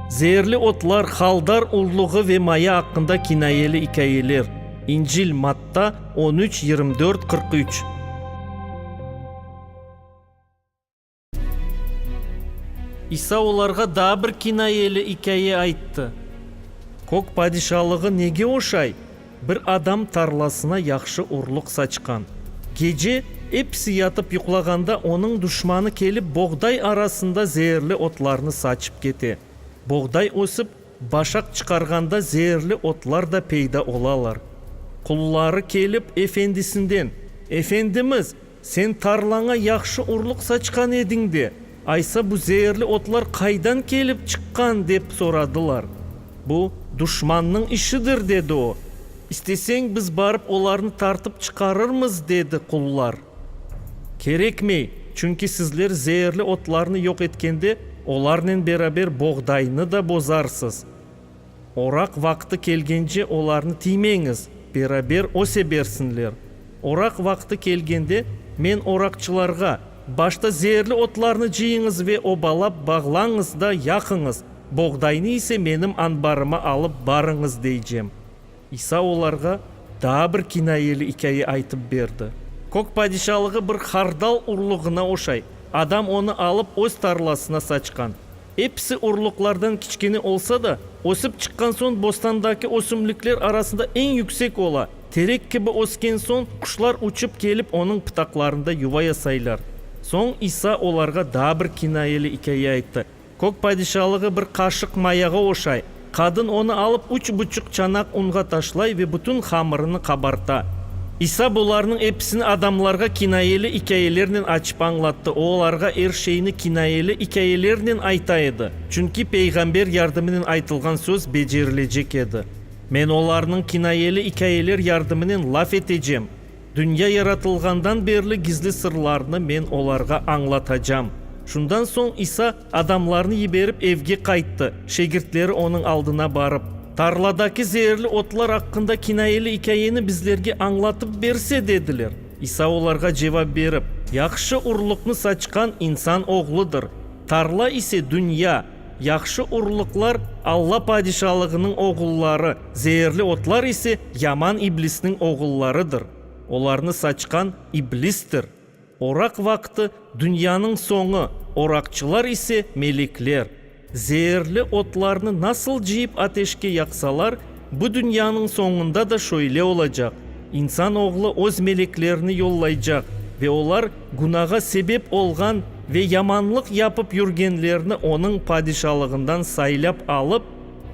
Zeerli otlar, Haldar urluğı ve maya aqqında kinayeli ikâyeler, İncil, Matta, on üç, yirmi dört, qırq üç. İsa olarğa daa bir kinayeli ikâye ayttı. Kök padişalığı nege oşay? Bir adam tarlasına yahşı urluq saçqan. Gece episi yatıp yuqlağanda onıñ duşmanı kelip boğday arasında zeerli otlarnı saçıp kete. Boğday ösip, başaq çıqarğanda zeerli otlar da peyda olalar. Qulları kelip efendisinden, Efendimiz, Sen tarlaña yahşı urluq saçqan ediñ de, aysa bu zeerli otlar qaydan kelip çıqqan? dep soradılar. Bu, duşmannıñ işidir, dedi o. İsteseñ, biz barıp olarnı tartıp çıqarırmız, dedi qullar. Kerekmey, çünki sizler zeerli otlarnı yoq etkende, olarnen beraber boğdaynı da bozarsız. Oraq vaqtı kelgence olarnı tiymeñiz, beraber öse bersinler. Oraq vaqtı kelgende men oraqçılarğa, Başta zeerli otlarnı cıyıñız ve obalap bağlañız da yaqıñız, boğdaynı ise menim anbarıma alıp barıñız deycem. İsa olarğa daa bir kinayeli ikâye aytıp berdi. Kök padişalığı bir hardal urluğına oşay, adam onı alıp öz tarlasına saçqan. Episi orluqlardan kiçkene olsa da, ösip çıqqan soñ bostandaki ösümlikler arasında eñ yüksek ola. Terek kibi ösken soñ, quşlar uçıp kelip onıñ pıtaqlarında yuva yasaylar. Soñ İsa olarğa daa bir kinayeli ikâye ayttı, Kök padişalığı bir qaşıq mayağa oşay. Qadın onı alıp üç buçuq çanaq unğa taşlay ve bütün hamırını qabarta. İsa bularnıñ episini adamlarğa kinayeli ikâyelernen açıp añlattı, o olarğa er şeyni kinayeli ikâyelernen ayta edi, çünki peyğamber yardımınen aytılğan söz becerilecek edi, Men olarnıñ kinayeli ikâyeler yardımınen laf etecem, Dünya yaratılğandan berli gizli sırlarnı men olarğa añlatacam. Şundan soñ İsa adamlarnı yiberip evge qayttı. Şegirtleri onıñ aldına barıp, Tarladaki zeerli otlar aqqında kinayeli ikâyeni bizlerge añlatıp berse, dediler. İsa olarğa cevap berip, Yahşı urlıqnı saçqan insan Oğludır, tarla ise dünya. Yahşı urlıqlar, Alla padişalığınıñ oğulları, zeerli otlar ise yaman iblisniñ oğullarıdır, olarnı saçqan iblistir. Oraq vaqtı, dünyanıñ soñu, oraqçılar ise, melekler. Zeerli otlarnı nasıl cıyıp ateşke yaqsalar, Bu dünyanıñ soñunda da şöyle olacaq, insan oğlu öz meleklerini yollaycaq ve olar günağa sebep olğan ve yamanlıq yapıp yürgenlerni onıñ padişalığından saylap alıp,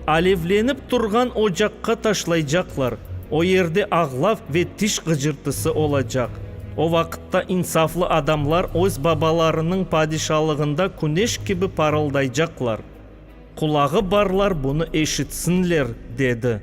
alevlenip turğan ocaqqa taşlaycaqlar, o yerde ağlav ve tiş ğıcırtısı olacaq. O vaqıtta insaflı adamlar öz babalarınıñ padişalığında küneş kibi parıldaycaqlar. Qulağı barlar bunı eşitsinler, dedi.